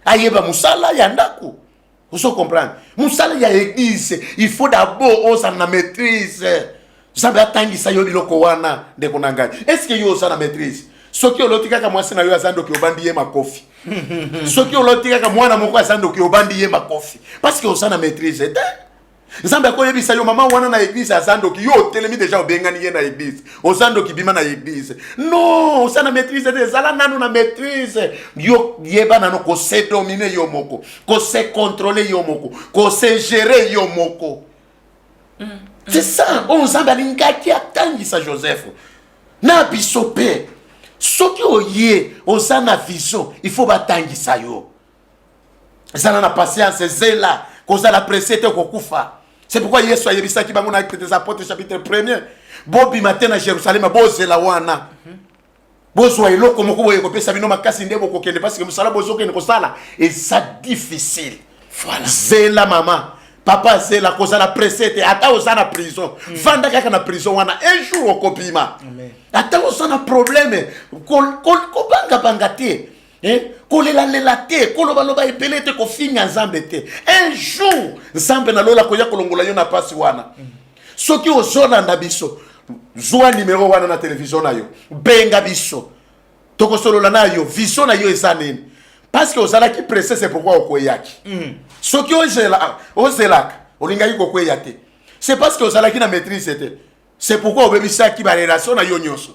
ayeba mosala ya ndako ozo comprendre mosala ya eglise il faut d'abord ozala na maîtrise nzambe atangisa yo biloko wana ndeko na ngai estce yo oza na maîtrise soki oloti kaka mwasi na yo aza ndoki obandi ye makofi soki oloti kaka mwana moko aza ndoki obandi ye makofi parce que oza na maîtrise te nzambe akoyebisa yo mama wana na eglise aza ndoki yo otelemi deja obengani ye na eglise oza ndoki bima na eglise non oza na maîtrise te ezala nano na maîtrise yo yeba nano kose domine yo moko kose controle yo moko kose gere yo moko mm, mm. c'est ça oyo nzambe alingaki atangisa joseph na biso mpe soki oye oza na vision il faut batangisa yo zala na patience zela kozala presse te okokufa c'est pourquoi yesu ayebisaki bango na acte des apôtres chapitre premier bobima te na jérusalem bozela wana bozwa eloko moko boye kopesa bino makasi nde bokokende parceke mosala bozokende kosala eza difficile voilà. zela mama papa zela kozala presse te ata oza na prison mm. vanda kaka na prison wana un jour okobima ata oza na probleme kobangabanga ko, ko, te Eh, kolelalela te kolobaloba ebele te kofinga nzambe te un jour nzambe na lola koya kolongola yo na mpasi wana soki ozolanda biso zwa nimero wana na televizio na yo benga biso tokosolola na yo vision na yo eza nini parceke ozalaki presse se pourkui okweyaki mm. soki ah, ozelaka olingaki kokweya te se parceke ozalaki na maîtrise te se pourkui obebisaki barelation na yo nyonso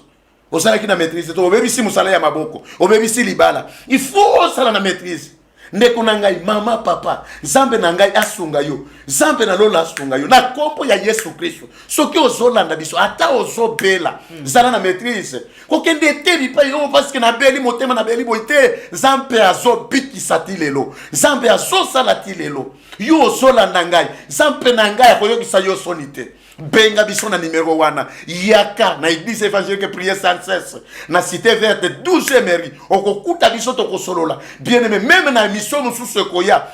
osalaki na maîtrise to obebisi mosala ya maboko obebisi libala il faut osala na maîtrise ndeko na ngai mama papa nzambe na ngai asunga yo nzambe na lola asunga yo na nkombo ya yesu kristo soki ozolanda biso ata ozobela hmm. zala na maîtrise kokende te bipai oyo paske nabeli motema nabeli boye te nzambe azobikisa ti lelo nzambe azosala ti lelo yo ozolanda ngai nzambe na ngai akoyokisa yo soni te benga biso na numero wana yaka na eglise évangélique prière sans cesse na cité verte 12 emery okokuta biso tokosolola bien aimé meme na émission mosusu ekoya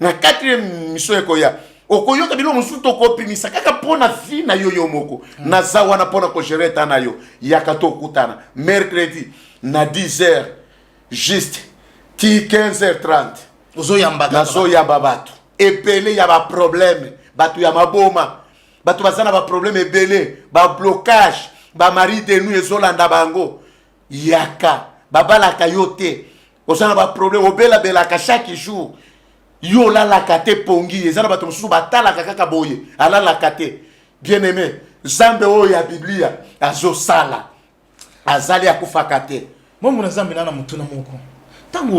na quatrième émission ekoya okoyoka bino mosusu tokopimisa kaka mpo na vie na yo yo moko mm. naza wana mpo na kogere eta na yo yaka tokutana mercredi na 10 heures juste ti 15 heures 30 nazoyamba bato ebele ya baprobleme bato ya maboma bato baza na baprobleme ebele bablocage bamari de nu ezolanda bango yaka babalaka yo te oza na baprobleme obelabelaka chaque jour yo olalaka te pongi eza na bato mosusu batalaka kaka boye alalaka te bien aime nzambe oyo ya biblia azosala azali akufaka te momo na zambe na na
motuna moko ntango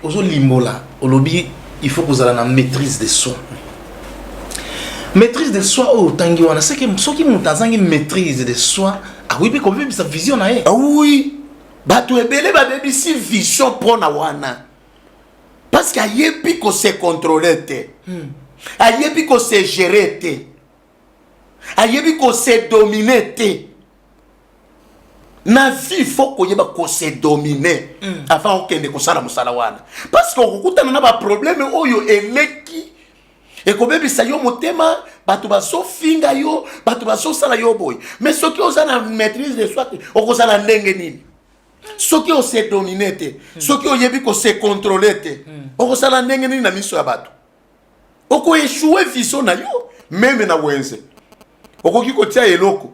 ozolimbola ozo olobi il faut kozala na maîtrise de soi maîtrise de soi oyo otangi wana seke soki moto azangi maîtrise de soi akoki mpe kobebisa vision na ye ah oui
bato ebele babebisi vision mpona wana parce que ayebi ko se contrôler te hmm. ayebi ko se gérer te ayebi ko se dominer te na vie fo koyeba kose domine mm. avant okende kosala mosala wana parce que okokutana na baprobleme oyo eleki ekobebisa yo motema bato bazofinga yo bato bazosala yo boye mais soki oza na maîtrise de soi te okozala ndenge nini soki ose domine te mm. soki oyebi kose controle te mm. okosala ndenge nini na miso ya bato okoeshue viso na yo meme na wenze okoki kotia eloko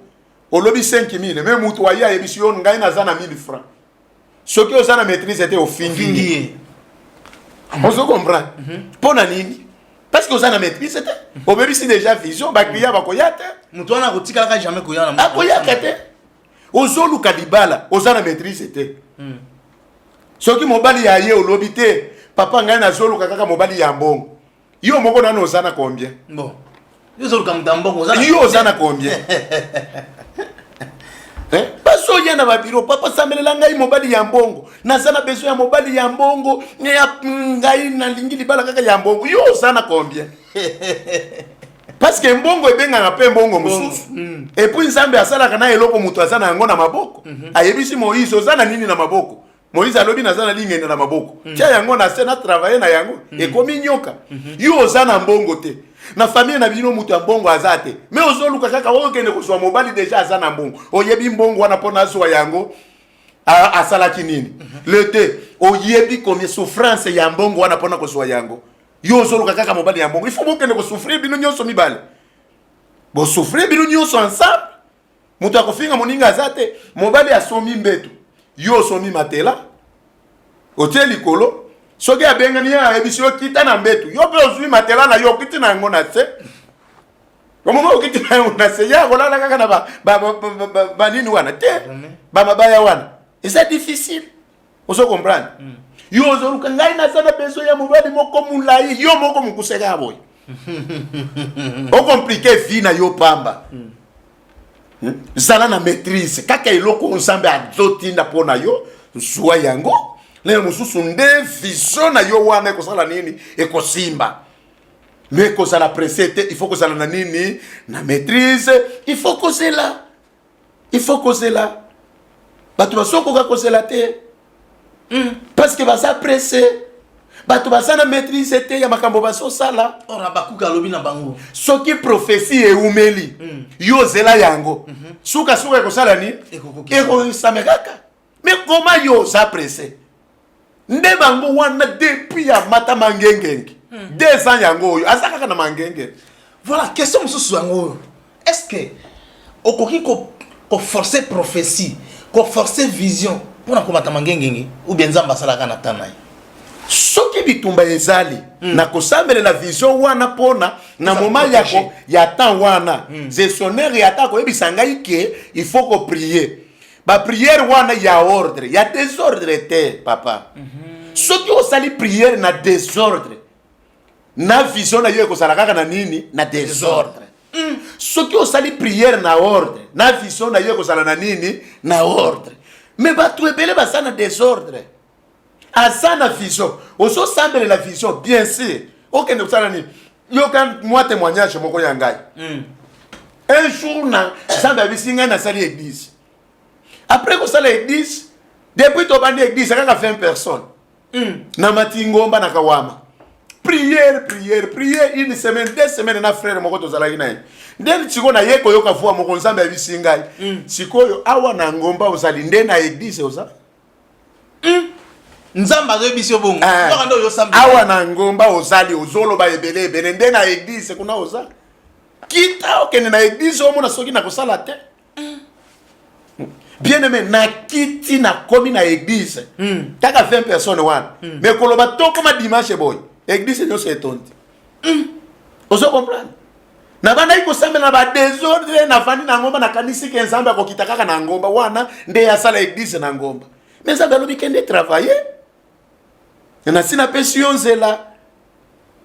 olobi 5000 me moto waye ayebisi yo ngai naza na 1000 franc soki oza na maîtrise te ofingi ye ozo comprendre mhm. mpo na nini parce que oza na maîtrise te obebisi déjà vision bacliya bakoya te moto wana akotikalaka
jamais koya akoyaka te
ozoluka libala oza na maîtrise te mm. soki mobali ya ye olobi te papa ngai nazoluka kaka mobali ya mbongo yo moko nano oza na combien bon.
yo ozoluka moto ya mbongo oza yo oza na combien eh?
basi oya na babiro papa sambelela ngai mobali ya mbongo naza na besoin ya mobali ya mbongo ngai nalingi libala kaka ya mbongo yo oza na combien parce que mbongo ebengaka mpe mbongo mosusu mm. epuis nzambe asalaka na eloko moto aza na yango na maboko mhm. ayebisi moïse oza na nini na maboko moïse alobi naza na lingenda na maboko mm. tya yango na se na travaille na yango mm. ekomi nyoka mhm. yo oza na mbongo te na famille na bino moto ya mbongo aza te me ozoluka kaka okende kozwa mobali deja aza na mbongo oyebi mbongo wana mpo nazwa yango asalaki nini mhm. le te oyebi komi souffrance ya mbongo wana mpona kozwa yango yo ozoloka kaka mobali ya mbongo ifo bokende kosouffrir bino nyonso mibale bosouffrir bino nyonso ensemble moto ya kofinga moninga aza te mobali asomi mbeto yo osomi matela otie likolo soki abengani ye ayebisi yo kita na mbeto yo mpe ozwi matela na yo okiti na yango na se omoma okiti na yango na se ye akolala kaka na banini wana te bamabaya wana eza difficile ozo comprendre mm. yo ozoluka ngai naza na besoin ya mobali moko molai yo moko mokuseka ya boye okomplike vie na yo pamba mm. hmm? zala na maîtrise kaka eloko nzambe azotinda mpo na yo zwa yango lelo mosusu nde vision na yo wana ekosala nini ekosimba me kozala presse te il faut kozala na nini na maîtrise il faut kozela il faut kozela bato bazokoka kozela te hmm. parce que baza presse bato baza na maîtrise te ya makambo bazosala or abakuka alobi
na bango soki prophesie
eumeli hmm. yo ozela yango hmm. sukasuka ekosala nini ekokisame kaka mais koma yo oza presse nde bango wana depuis ya mata mangengenge hmm. deux ans yango oyo aza kaka na mangenge voilà question
mosusu yango oyo est ce que okoki koforce ko prophétie koforce vision mpo na komata mangengenge ou bien nzambe asalaka na ntan na ye soki
bitumba ezali mm. na kosambelela vision wana mpona na moma ya, ya temps wana mm. gestionnaire ya ata koyebisa ngai ke il faut koprie ba prière wana ya ordre ya desordre te papa mm -hmm. soki osali prière na desordre na vision na yo ekozala kaka na nini na desordre mm. soki osali prière na ordre na vision na yo ekozala na nini na ordre me bato ebele baza na desordre aza na vision ozosambelela vision bien sûr okende kosala nini yoka mwa témoignage moko ya ngai mm. un jour na nzambe abisi ngai nasali église après kosala église depuis tobandi église akaka 20 personnes mm. na matingomba na kawama prière prière prière une semaine deux semaines na frère moko tozalaki na ye nde sikoyo naye koyoka voix moko nzambe abisi ngai mm. sikoyo awa na ngomba ozali nde na église oza
nzambe azoyebisi yo bongo eh. kaka nde oyosambela awa na ngomba
ozali ozoloba ebele ebele nde na eglise kuna oza kita okende na eglise omona soki nakosala te bien aime nakiti nakomi na eglise hmm. kaka 20 personne wana hmm. me koloba tokoma dimanche boye eglise nyonso etondi hmm. ozo comprendre nabandaki kosambela ba desordre navandi na ngomba nakanisi ke nzambe akokita kaka na ngomba wana nde asala eglise na ngomba me nzambe alobi kende travaille nasi napesi yo nzela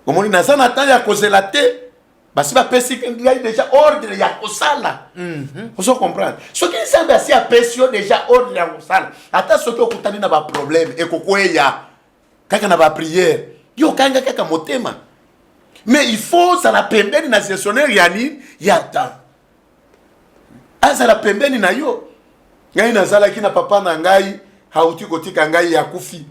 omoni naza na temps ya kozela te basi bapesi ngai deja ordre ya kosala mhm. ozo comprendre soki nzambe asi apesi yo deja ordre ya kosala ata soki okutani na baproblème ekokweya kaka na ba prière yo kanga kaka motema mais il faut ozala pembeni na gestionnaire ya nini ya temps azala pembeni na yo ngai nazalaki na papa na ngai hauti kotika ngai ya kufi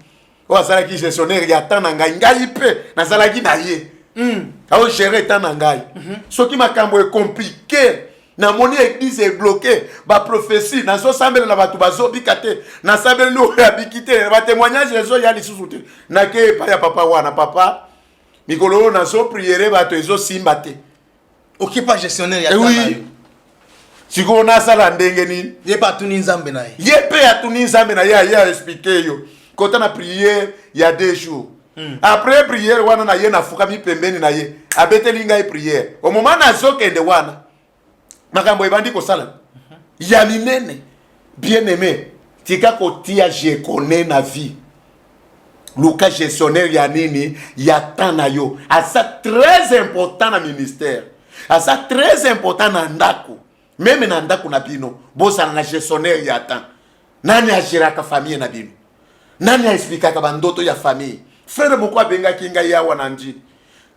oyo azalaki gestionnaire ya temps na ngai ngai mpe nazalaki na ye mm. aogere temps na ngai mm -hmm. soki makambo ekomplike namoni eglise ebloke baprofesi nazosambelela bato bazobika te nasambeleli oyo abiki te batemoignage ezoya lisusu te nake epai ya papa wana papa mikolo oyo nazopriere bato ezosimba te okipa
gestionnaire ya eh oui. sikoyo
nasala ndenge nini ye mpe atuni nzambe
na ye ye mpe atuni nzambe
na ye aye aexplike yo kota na priere ya deux jours mm. après prière wana na ye nafukami pembeni na ye abeteli ngai prière omoma nazokende wana makambo ebandi kosala mhm. ya minene bien aimé tika kotia je connais na vie luka gestionnaire ya nini ya temps na yo aza très important na ministère aza très important na ndako meme na ndako na bino bozala na gestionnaire ya temps nani agiraka famille na bino nani aexplikaka bandoto ya famille frere moko abengaki ngai awa na ndi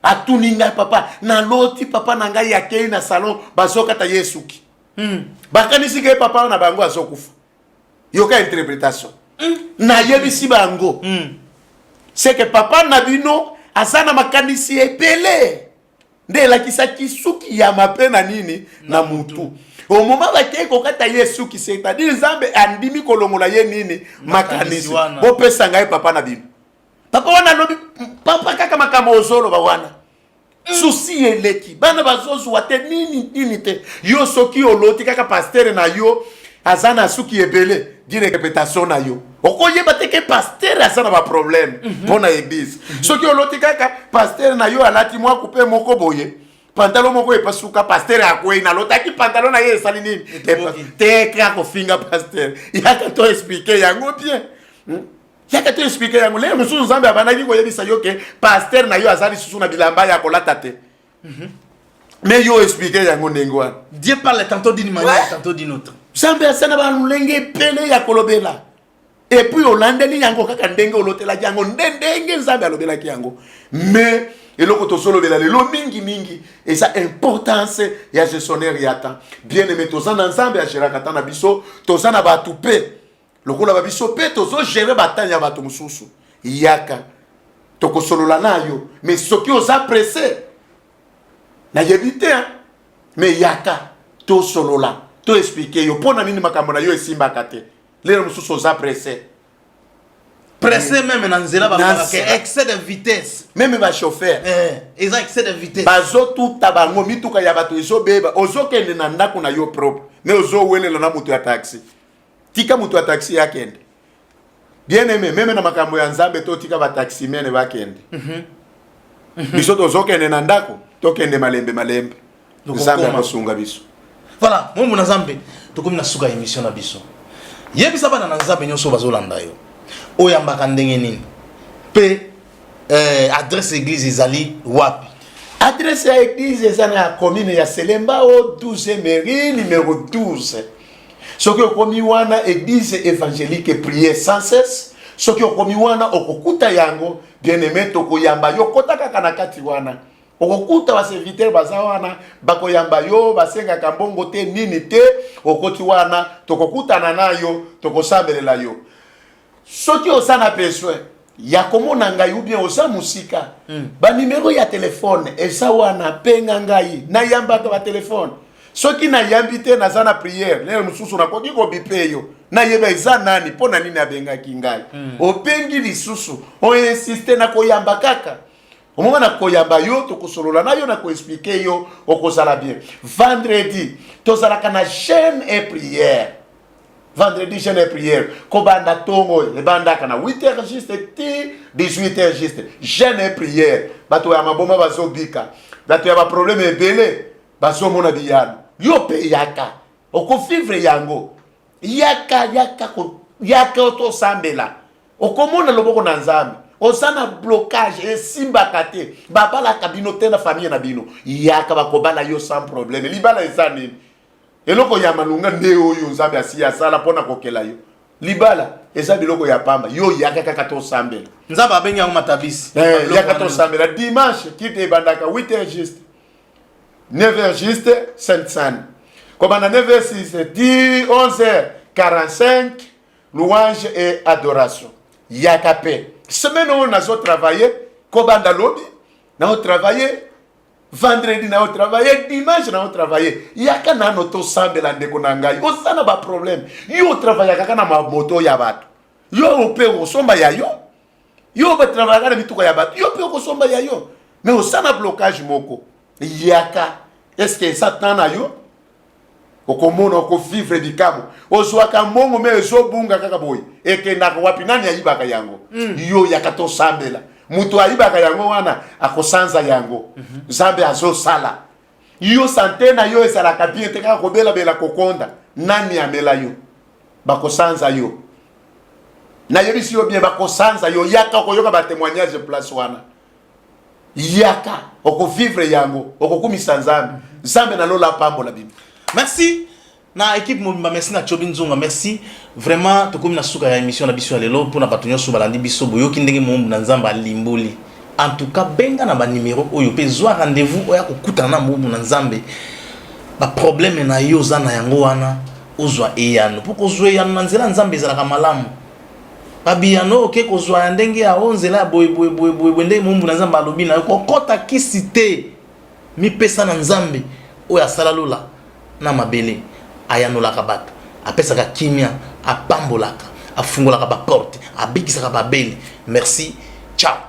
atuni ngai papa naloti papa na ngai akei na salon bazokata ye esuki mm. bakanisi ke papa na bango azokufa yoka interpretation mm. nayebisi bango mm. seke papa na bino aza na makanisi ebele nde elakisaki suki ya mabe na nini na mutu omoma bakei kokata ye suki c'est-à-dire nzambe andimi kolongola ye nini makanisi bopesa ngai papa na bino papa wana alobi papa kaka makambo ozoloba wana mm. susi eleki bana bazozwa te nini nini te yo soki oloti kaka pastere na yo aza na suki ebele direkepetation na yo okoyeba te ke pastere aza na baproblème mpo mm -hmm. na eglise mm -hmm. soki oloti kaka pastere na yo alati mwa kupe moko boye pantalo moko epasuka pastere akwei nalotaki pantalo na ye esali nini te kaka kofinga pastere yaka to explike yango bien hmm? yaka to explike yango leye mosusu nzambe abandaki koyebisa yo ke pastere na yo aza lisusu na bilamba ya kolata te Mhm. mais yo explike yango ndenge wana dieu parle tantôt
d'une manière tantôt d'une autre nzambe asana
balolenge ebele ya kolobela epuis olandeli yango kaka ndenge olotelaki yango nde ndenge nzambe alobelaki yango mais eloko tozolobela lelo mingimingi eza importance ya gestionnaire ya temps bien aime toza na nzambe ageraka ata na biso toza na bato mpe lokola ba biso mpe tozo gere batani ya bato mosusu yaka tokosolola nayo me soki oza presse nayebi te me yaka tosolola to explike yo mpo na nini makambo na yo esimbaka te lelo mosusu oza presse presse meme
na nzela babalaka excès de vitesse meme bachauffeur eh,
eza excès de
vitesse bazotuta bango
mituka ya bato ezobeba ozokende na ndako na yo propre me ozowelela na moto ya taxi tika moto ya taxi ya kende bien aime meme na makambo ya nzambe to tika bataximene bakende mm -hmm. mm -hmm. biso tozokende na ndako tokende malembe malembe nzambe akosunga biso voilà momo na
nzambe tokomi na suka ya émission na biso yebisa bana na nzambe nyonso bazolanda yo oyambaka ndenge nini mpe eh, adresse église ezali wapi adresse ya
église eza na commune ya selemba o 12 mairie numero 12 soki okomi wana eglise evangelique prier sans cesse soki okomi wana okokuta yango bien aime tokoyamba yo kota kaka na kati wana okokuta baservitere baza wana bakoyamba yo basengaka mbongo te nini te okoti wana tokokutana na yo tokosambelela yo soki oza na besoin ya komona ngai ou bien oza mosika mm. banimero ya telefone eza wana penga ngai nayambaka batelefone soki nayambi te naza na priere lelo mosusu nakoki kobipe yo nayeba eza nani mpo na nini abengaki ngai mm. opengi lisusu oinsiste na koyamba kaka omoma na koyamba yo tokosolola na yo na koexplike yo okozala bien vendredi tozalaka na chaine et priere vendredi jeune et prière kobanda ntongo oyo ebandaka na 8 heures juste ti 18 heures juste jeune et prière bato ya maboma bazobika bato ya baproblème ebele bazomona biyano yo mpe yaka okofivre yango yaka yaka yaka tosambela okomona loboko na nzambe oza na blocage esimbaka te babalaka bino te na famille na bino yaka bakobala yo sans problème libala eza nini eloko ya malonga nde oyo nzambe asi asala mpo na kokela yo libala eza biloko ya pamba yo yaka kaka tosambela nzambe abengi yango
matabisi eh, yaka tosambela
dimanche kite ebandaka 8 heures juste 9 heures juste sainte sainte kobanda 9 heures 6 heures 10 11 heures 45 louange et adoration yaka mpe semaine oyo nazo travaille kobanda lobi nazo travaille vendredi na yo travaille dimanche na yo travaille yaka nano tosambela ndeko na ngai oza na baproblème yo otravayaka kaka na mamoto ya bato yo mpe okosomba ya yo yo batravayaka na mituka ya bato yo mpe okosomba ya yo mais oza na blocage moko yaka eske eza temps na yo okomona okovivre likambo ozwaka mbongo me ezobunga kaka boye ekendaka wapi nani ayibaka yango mm. yo yaka tosambela moto ayibaka yango wana akosanza yango mm -hmm. nzambe azosala yo sante na yo ezalaka bien te kaka kobelabela kokonda nani amela yo bakosanza yo nayebisi yo bien bakosanza yo yaka okoyoka batemoignage place wana yaka okovivre yango okokumisa nzambe nzambe na lola apambola bino merci
na équipe mobimba merci na chobi nzonga merci vraiment tokomi na suka ya émission na biso ya lelo mpona bato nyonso balandi biso boyoki ndenge moumbu na nzambe alimboli en tout cas benga na banimero oyo mpe zwa rendez-vous oya kokutana na moumbu na nzambe baproblème na yo oza na yango wana ozwa eyano mpo kozwa eyano na nzela ya nzambe ezalaka malamu ba biyano oke kozwa ya ndenge ya o nzela ya boye boye boye boye boye ndenge mombu na nzambe alobi na yo kokota kisi te mipesa na nzambe oyo asala lola na mabele ayanolaka bato apesaka kimia apambolaka afungolaka baporte abikisaka babeli merci ciao